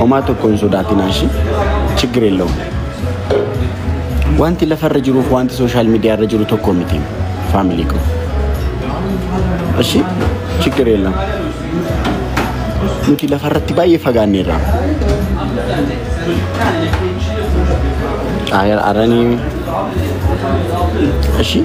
Homaa tokko hin sodaatinaa ishii chiggir yellawum. Wanti lafarra jiruuf wanti sooshaal miidiyaarra jiru tokko miti faamilii koo. Ishii chiggir yellawum. Nuti lafarratti baay'ee fagaanneerra. Aranii ishii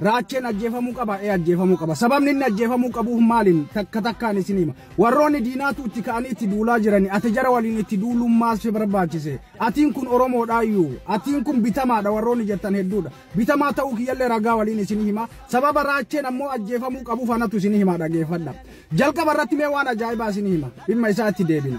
Raacheen ajjeefamuu qaba ee ajjeefamuu qaba. Sababni inni ajjeefamuu qabu maaliin takka takkaan isin hima. Warroonni diinaatu itti ka'anii itti duulaa jirani ati jara waliin itti duuluun maal si barbaachise. Atiin kun Oromoodhaa iyyuu. Atiin kun bitamaadha warroonni jettan hedduudha. Bitamaa ta'uu kiyyallee ragaa waliin isin hima. Sababa raacheen ammoo ajjeefamuu qabu fanatu isin hima dhageeffadha. Jalqaba irratti mee waan ajaa'ibaa isin hima. Dhimma isaatti deebina.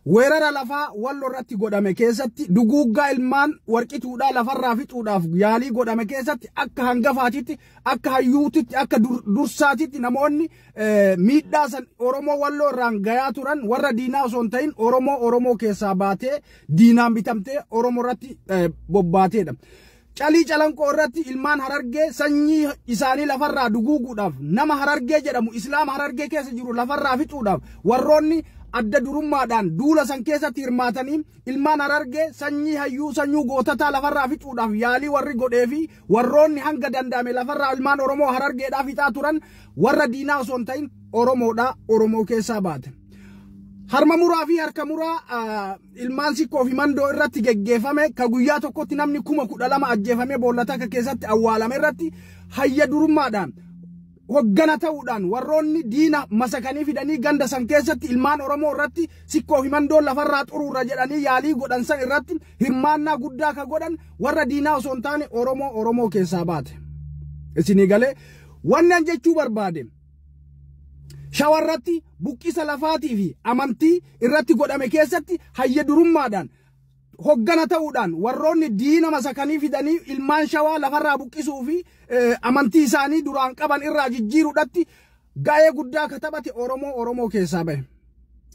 Weerara lafaa Wallo irratti godhame keessatti duguuggaa ilmaan warqituudhaa lafarraa fixuudhaaf yaalii godhame keessatti akka hangafaatitti, akka hayyuutitti, akka dur- dursaatitti namoonni eh, miidhaa san Oromoo Walloo irraan gayaa turan warra diinaa osoo hin ta'in Oromoo Oromoo keessaa baatee diinaan bitamtee Oromoo irratti eh, bobbaateedha. Calii Calanqoo irratti ilmaan Harargee sanyii isaanii lafarraa duguuguudhaaf nama Harargee jedhamu Islaama Harargee keessa jiru lafarraa fixuudhaaf warroonni adda durummaadhaan duula san keessatti hirmaatanii ilmaan Harargee sanyii hayyuu sanyuu gootataa lafarraa fixuudhaaf yaalii warri godhee fi warroonni hanga danda'ame lafarraa ilmaan Oromoo Harargeedhaa fixaa turan warra diinaa osoo hin ta'in Oromoodhaa Oromoo keessaa baate. Harma muraa fi harka muraa ah, ilmaan sikkoo fi mandoo irratti geggeeffame ka guyyaa tokkotti namni kuma kudha lama ajjeefamee boolla takka keessatti awwaalame irratti hayya durummaadhaan hoggana ta'uudhaan warroonni diina masakanii fidanii ganda san keessatti ilmaan Oromoo irratti sikkoo fi mandoo lafarraa xuruurra jedhanii yaalii godhan san irratti hirmaannaa guddaa ka godhan warra diinaa osoo hin taane Oromoo Oromoo keessaa baate. Isinii galee wanni an jechuu barbaade. Shawa irratti buqqisa lafaatii fi amantii irratti godhame keessatti hayya durummaadhaan hoggana ta'uudhaan warroonni diina masakanii fidanii ilmaan shawaa lafarraa buqqisuu fi amantii isaanii duraan qaban irraa jijjiiruudhatti ga'ee guddaa akka taphate Oromoo Oromoo keessaa bahe.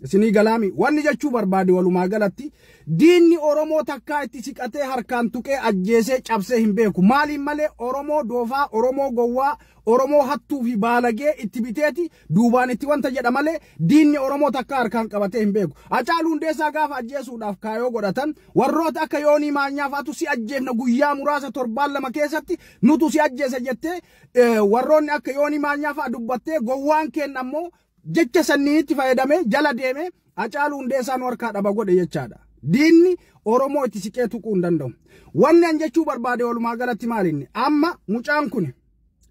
Isinii galaami wanni jechuu barbaade walumaa galatti diinni Oromoo takkaa itti siqatee harkaan tuqee ajjeesee cabsee hin beeku. Maaliin malee Oromoo doofaa, Oromoo gowwaa, Oromoo hattuu fi baalagee itti biteeti duubaan itti wanta jedha malee diinni Oromoo takka harkaan qabatee hin beeku. Hacaaluu Hundeessaa gaafa ajjeesuudhaaf kaayoo godhatan warroota akka Yoonii Maanyaa fa'atu si ajjeefna guyyaa muraasa torbaan lama keessatti nutu si ajjeesa jettee warroonni akka Yoonii Maanyaa fa'a dubbattee gowwaan keenna ammoo jecha sanniitti fayyadamee jala deemee Hacaaluu Hundeessaa nu harkaa dhaba godhe jechaadha. Diinni Oromoo itti siqee tuquu hin danda'u. Wanni an jechuu barbaade walumaa galatti maalinni amma mucaan kun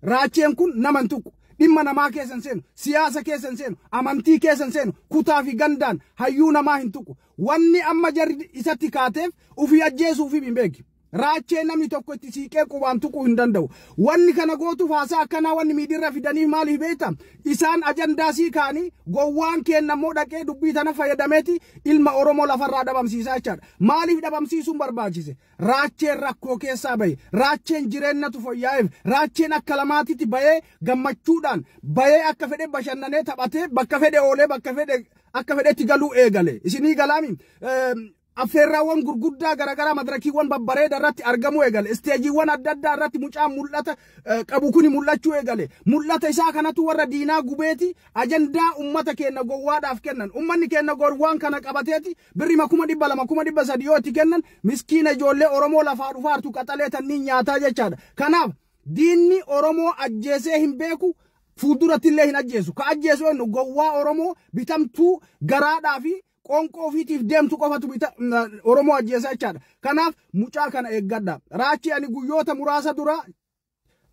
raacheen kun nama hin tuqu. Dhimma namaa keessa hin seenu, siyaasa keessa hin seenu, amantii keessa hin seenu, kutaa fi gandaan hayyuu namaa hin tuqu. Wanni amma jarri isatti kaateef ofii ajjeesuuf hin beeki. Raachee namni tokko itti siiqee qubaan tuquu hin danda'u. Wanni kana gootuuf haasaa akkanaa wanni miidiirra fidaniif maaliif beekta? Isaan ajandaa sii kaanii gowwaan keenna immoo dhaqee dubbii tana fayyadameeti ilma Oromoo lafarraa dhabamsiisaa jechaadha. Maaliif dhabamsiisuun barbaachise? Raacheen rakkoo keessaa bahe. Raacheen jireennatu foyyaa'eef. Raacheen akka lamaatitti bahee gammachuudhaan bahee akka fedhe bashannanee taphatee bakka fedhe oolee bakka fedhe akka fedhetti galuu eegale. Isinii galaami Affeerraawwan gurguddaa garaagaraa madirakiiwwan babbareeda irratti argamuu eegale. Isteejiiwwan adda addaa irratti mucaan mul'ata qabu kuni mul'achuu eegale. Mul'ata isaa kanatu warra diinaa gubeeti ajandaa ummata keenna gowwaadhaaf kennan. Ummanni keenna gowwaan kana qabateeti birrima kuma dhibba lama kuma dhibba sadi yoo itti kennan miskiina ijoollee Oromoo lafaa dhufaartu qaxalee tanniin nyaataa jechaadha. Kanaaf diinni Oromoo ajjeesee hin beeku fuulduratti illee hin ajjeesu. Ka ajjeesu eennu gowwaa Oromoo bitamtuu garaadhaa fi Qoonqoo ofiitiif deemtu qofatu bita Oromoo ajjeesa jechaadha. Kanaaf mucaa kana eeggadha. Raachii ani guyyoota muraasa dura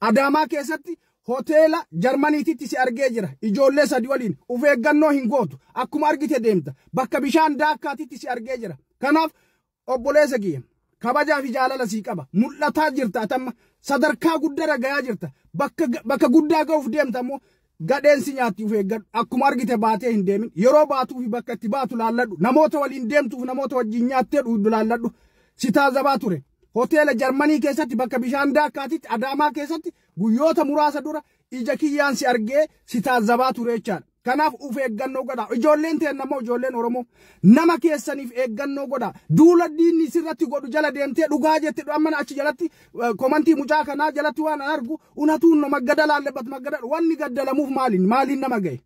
Adaamaa keessatti hoteela Jarmaniititti si argee jira. Ijoollee sadi waliin of eeggannoo hin gootu. Akkuma argite deemta. Bakka bishaan daakkaatitti si argee jira. Kanaaf Obboleessa kiyya, kabajaa fi jaalala sii qaba. Mul'ataa jirta ati amma. Sadarkaa guddaarra gayaa jirta. Bakka, bakka guddaa ga'uuf deemta ammoo gadheen si nyaatti of eeggadhu. Akkuma argite baatee hin deemin. Yeroo baatuu fi bakka itti baatu laalladhu. Namoota waliin deemtuuf namoota wajjin nyaattee dhuuddu laalladhu. Si taazabaa ture. Hoteela Jarmanii keessatti bakka bishaan daakkaatitti Adaamaa keessatti guyyoota muraasa dura ija kiyyaan si argee si taazabaa ture jechaadha. Kanaaf uf eeggannoo godha. Ijoolleen teenna immoo ijoolleen Oromoo nama keessaniif eeggannoo godha. Duula diinni sirratti godhu jala deemtee dhugaa jette amma achi jalatti komantii mucaa kanaa jalatti waan an argu unatuun no maggada laallebat maggada wanni gaddalamuuf maaliin maaliin nama gahe.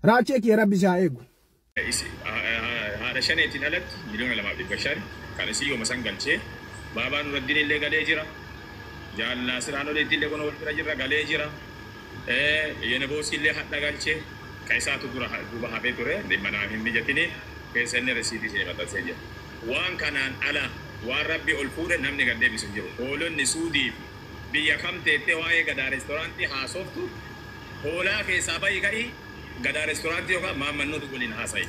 Raachee kiyya rabbi si haa eegu. Isi haadha shaneetiin alatti miliyoona 2 fi 500 kan isii yooma san galchee baabaa nuraddinillee galee jira jaal naasir aanoleettillee kunoo wal bira jirra galee jira yeneboosiillee hadha galche ka isaatu dura duuba hafee ture dhimma naa hin mijatini keessa inni risiitii isinii maxxansee jira waan kanaan ala waan rabbi ol fuudhe namni gad deebisu hin jiru hoolonni suudii fi biyya kam teettee waa'ee gadaa restoraantii haasooftu hoolaa keessaa bahi ka'ii Gadaa Restaurant yookaan Maamman Nuuti waliin haasa'i.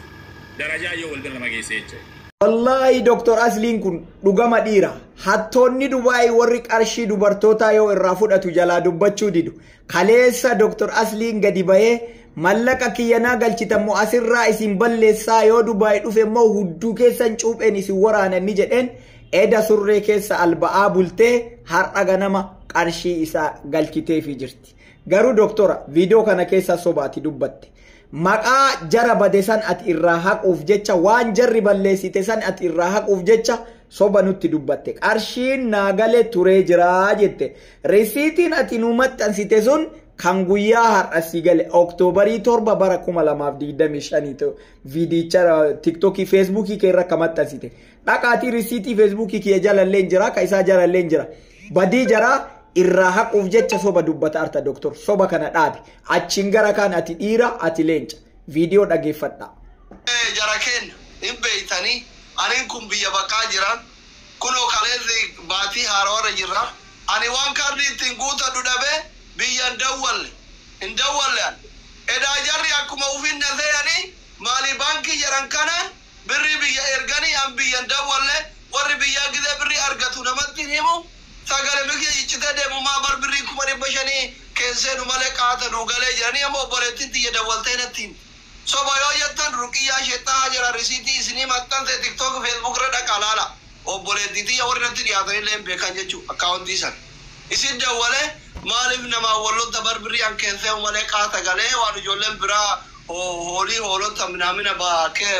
Darajaa yoo wal bira nama geesse jechuudha. Wallaahi Doktar Asliin kun dhugama dhiira. Hattoonni Dubaayii warri qarshii dubartootaa yoo irraa fudhatu jalaa dubbachuu didu. Kaleessa Doktar Asliin gadi bahee mallaqa kiyyanaa galchitan moo asirraa isin balleessaa yoo Dubaayii dhufe immoo hudduu keessan cuupheen isin waraanan ni jedheen eda surree keessa alba'aa bultee har'a ganama qarshii isaa galchiteefii jirti. Garuu doktora viidiyoo kana keessaa soba ati dubbatte. Maqaa jara bade san ati irraa haquuf jecha waan jarri balleessite san ati irraa haquuf jecha soba nutti dubbatte. Qarshiin naa gale turee jiraa jette. Risiitiin ati nuu maxxansite sun kan guyyaa har'a si gale Oktoobarii 7 bara 2025 viidiyicha tiktookii feesbuukii kee irra akka maxxansite. Dhaqaatii risiitii feesbuukii kiyya jalallee hin jira ka isaa jalallee hin jira. Badii jaraa irraa haquuf jecha soba dubbata arta doctor soba kana dhaabi achiin gara kaan ati dhiira ati leenca video dhageeffadhaa. Mee jara keen hin beeytani anin kun biyya baqaa jira kunoo kaleessi baatii haarawarra jirra ani waan kaardii ittiin guutadhu dhabee biyya hin dawwalle hin dawwalle an edaa jarri akkuma ufin na seyani maali baankii jedhan kana Birrii biyya erganii an biyyan dawwalle warri biyyaa gizee birrii argatu namatti himu sagale mikya ciccitee deemu maa bar birrii kuma dhibba shanii keen seenu malee qaata nuu galee jedhanii amma obboleettin tiyya dawwaltee natti himte soba yoo jettan ruqiyyaa shexxaa hajaraa risiitii isinii maxxanse tiktok facebook irra dhaqaa laalaa. obboleettii tiyya warri natti dhiyaatanillee hin beekan jechuun akkaawontii san isitti dawwalee maaliif namaan wal lolta bar birrii an keenseehu malee qaata galee waan ijoolleen biraa hoolii hoolota minaamina ba kee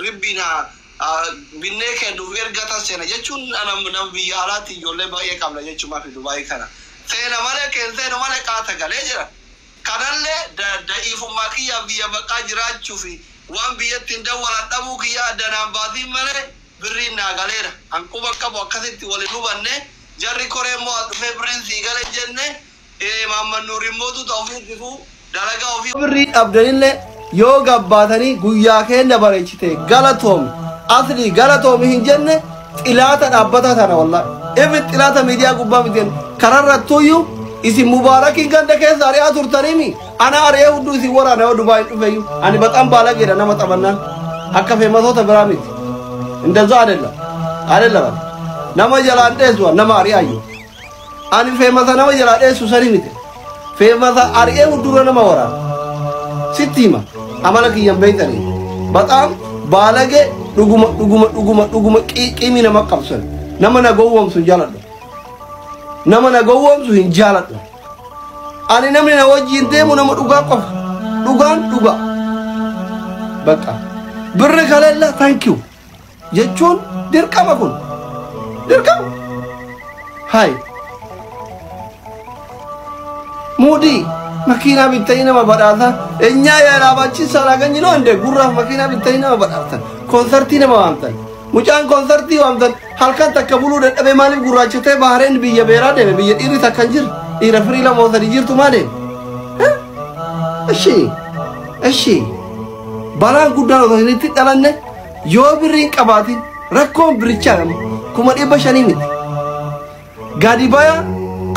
ribbiin haa binnee keennuuf ergatan seena jechuun ana nama biyya alaatti ijoollee baay'ee qabna jechuun maafi dubaayii kana seena malee keenseenu malee qaata galee jedhan kanallee da da'iifummaa kiyyaaf biyya baqaa jiraachuufi waan biyyatti hin dawwalan dhabuu kiyyaa adda naan baasiin malee Birriin naa galeera. Kan quba qabu akkasitti wal hin hubanne. Jarri koree immoo as dhufee birriin sii gale hin jenne. Ee Mahammad Nuur immoo tuta ofii tifuu dalagaa ofii. Yoo birrii dhabdanille yoo gabbaatanii guyyaa keenna bareechite galatoomi Aslii galatoomi hin jenne xilaata dhaabbataa tana wallaahi. Even xilaata miidiyaa gubbaa miti kararrattuyyuu isin mubaarakiin ganda keessa ari'aa turtaniimi. Ana ari'ee hudduu isin waraana yoo Dubaay dhufeyyuu. Ani baxaan baalageedha nama xabannaan. Akka feematoota biraa miti. Indazaa adella. Adella bana. Nama jalaan dheessuwa nama ari'aayyu. Ani feemata nama jalaa dheessu sani miti. Feemata ari'ee huddura nama waraana. Sitti hima. Amala kiyyan beektanii. Baxaan baalagee dhuguma dhuguma dhuguma dhuguma qiiqimii nama qabsan. Nama na gowwomsu hin jaaladhu. Nama na gowwomsu hin jaaladhu. Ani namni na wajjin deemu nama dhugaa qofa. Dhugaan dhugaa. Bakka. Birri kaleella thank you. Jechuun dirqama kun. Dirqama. Hai. Muudii makiinaa bittanii nama badhaasa. Enyaa yaalaa baachisaa laagan jiloo hinde gurraaf makiinaa bittanii nama badhaasa. Konsartii nama waamtan. Mucaan konsartii waamtan. Halkan takka buluu dadhabee maaliif gurraachatee Bahareen biyya beeraa deeme biyya dhiirri takka hin jirre dhiira firii lama ol sadii jirtu maa deeme? Eshi eshi balaan guddaan osoo hin itti dhalanne yoo birri hin qabaatin rakkoon birichaa nama kuma dhibba shanii miti. Gadi baya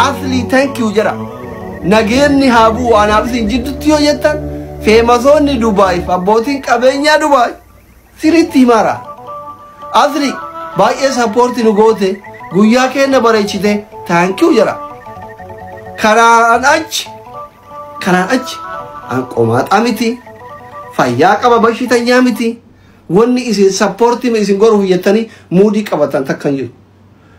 asli thank you jedha. Nageenni haa bu'u anaaf isin jidduutti yoo jettan feemasoonni Dubaayif abbootiin qabeenyaa Dubaay Siritti himaara. Asri baay'ee sappoorti nu goote guyyaa keenna bareechite taankiu jara. Kanaan achi kanaan achi an qomaaxaa miti fayyaa qaba bashitanyaa miti wanni isin sappoorti mi isin goruuf jettanii muudii qabatan takkan jiru.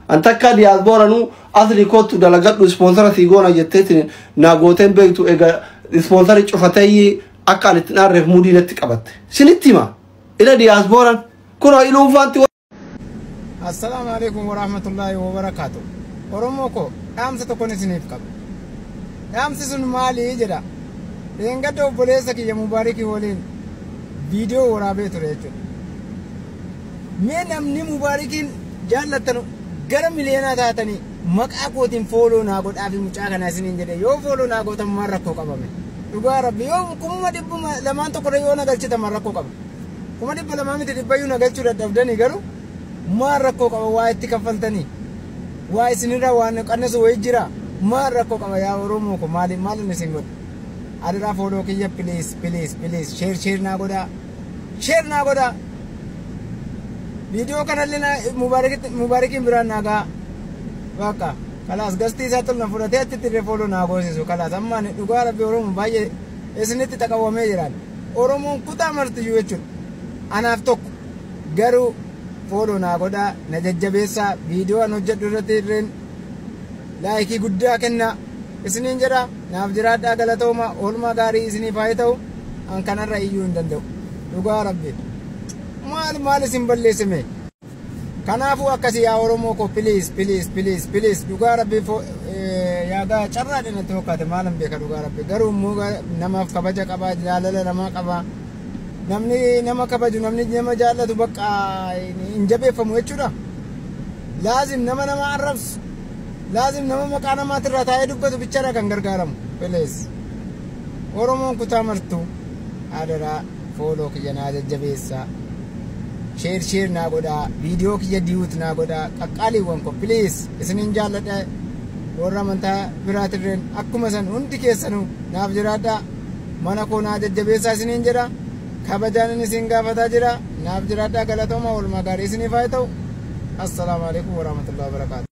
An takkaa diyaasbooranuu asri kootu dalagadhu ispoonsara sii goona jetteetiin naa gooteen beektu egaa ispoonsari cufatee Akka ani itti hin aarreef muudii natti qabatte. Sinitti hima. Ila diyaasbooran. Kunoo iluun faanti. Assalaamu alaikum warahmatullaahi wabarakaatu. Oromoo koo dhaamsa tokkon isiniif qaba. Dhaamsi sun maali jedha? Dheengadda obboleessa kiyya Mubaarikii waliin viidiyoo waraabee ture jechuudha. Mee namni Mubaarikiin jaallattanu gara miliyeenaa taatanii Maqaa kootiin follow naa godhaafi mucaa kana isiniin jedhe yoo follow naa gootan maal rakkoo qaba me dhugaa rabbi yoo kuma dhibbuma lamaan tokkollee yoo na galchitan maal rakkoo qaba kuma dhibba lamaa miti dhibbayyuu na galchuu dadhabdanii garuu maal rakkoo qaba waa itti kaffaltanii waa isinirraa waan qannasu wayii jira maal rakkoo qaba yaa oromoo ko maali maalin isin godha adaraa follow kiyya please please please share share naa godhaa Share naa godhaa. Video kanallee na Mubaarakit- Mubaarakiin biraan naa gahaa. Bakka kalaas gastii isaa tolna fudhatee achitti illee fooloo naa goosisu kalaas amma ani dhugaa rabbi Oromoo baay'ee isinitti xaqawwamee jiraan. Oromoon kutaa martiyyuu jechuudha. Anaaf tokko garuu fooloo naa godhaa na jajjabeessaa viidiyoo an hojjedhu irratti irreen laayikii guddaa kennaa isiniin jedha naaf jiraadhaa galatooma oolmaa gaarii isiniif haa ta'u. an kanarra iyyuu hin danda'u dhugaa rabbi maal maal isin balleessime kanaafuu akkasi yaa oromoo koo piliis piliis piliis piliis dhugaa rabbi fo- eh, yaagaa carraa dhinatti fakkaate maalan beeka dhugaa rabbi garuu immoo ga- namaaf kabaja qabaa jaalala namaa qabaa namni nama kabaju namni nama jaallatu bakka hin jabeeffamu jechuudha laazim nama nama arrabsu laazim nama maqaa namaatirraa taa'ee dubbatu bichaadha kan gargaaramu piliis Oromoon kutaa martuu adaraa fooloo kiyya naa jajjabeessaa sheer sheer naa godhaa viidiyoo kiyya diyuut naa godhaa qaqqaaliiwwan ko piliis isinin jaalladha warra amantaa biraatirreen akkuma san hundi keessanuu naaf jiraadhaa mana koo naa jajjabeessaa isiniin jedha kabajaanin isin gaafataa jira naaf jiraadhaa galatooma walumaa gaarii isiniif haa ta'u assalaamu alaikum warahmatullahi wabarakaatu